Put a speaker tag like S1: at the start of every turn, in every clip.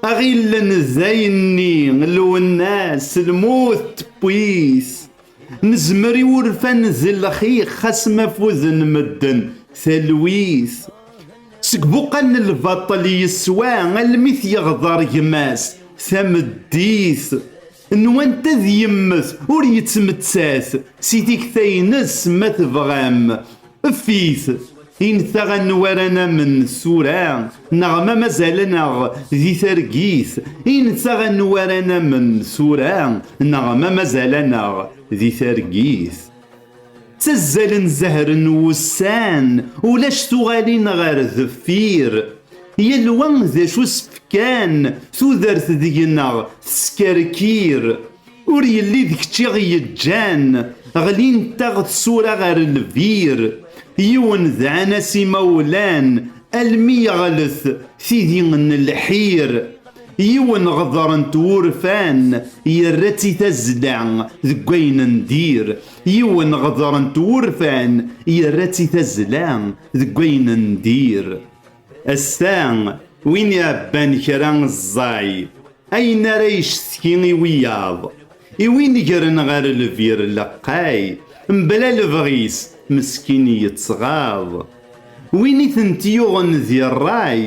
S1: aɣillen d ayenni lwennas lmut tewwit nezmer i wurfan d lxix xas ma fuden medden talwit seg buqal n lbaṭel yeswa almi t-yeɣḍer gma-s tameddit Nwant ad yemmet ur yettmettat si tikta-ines ma tebɣam ef-it intaɣ anwa ara namen tura neɣ ma mazal-aneɣ di targit intaɣ anwa ara namen tura neɣ ma mazal-aneɣ di targit. ttazzalen zehre n wussan ulac tuɣalin ɣer deffir yal wa d acu s-fkan tudert deg-neɣ teskerkir ur yelli d kečč i ɣ-yeǧǧan ɣlint-aɣ tsura ɣer lbir yiwen dɛan-as imawlan almi yeɣlet tidi n lḥir Yiwen ɣdeṛ n twurfan yerra-tt i tazzla deg ayen n dir. Yiwen ɣdeṛ n twurfan yerra-tt i tazzla deg ayen n dir. Ass-a, win iɛebban kra ẓẓay, ayen ara yectki i wiyaḍ, i win gren ɣer lbir leqqay, mebla lebɣi-s, meskin yettɣaḍ. Win i tent-yuɣen di ṛṛay,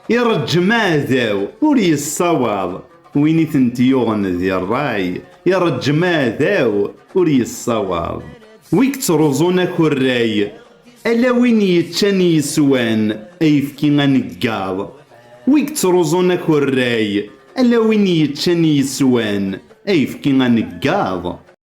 S1: Ireǧǧem aɛdaw ur yessawaḍ, win i tent-yuɣen di ṛṛay, ireǧǧem aɛdaw ur yessawaḍ. Wi yettruẓun akurray, ala win yeččan yeswan ayefki aneggaḍ, wi yettruẓun akurray, ala win yeččan yeswan ayefki aneggaḍ.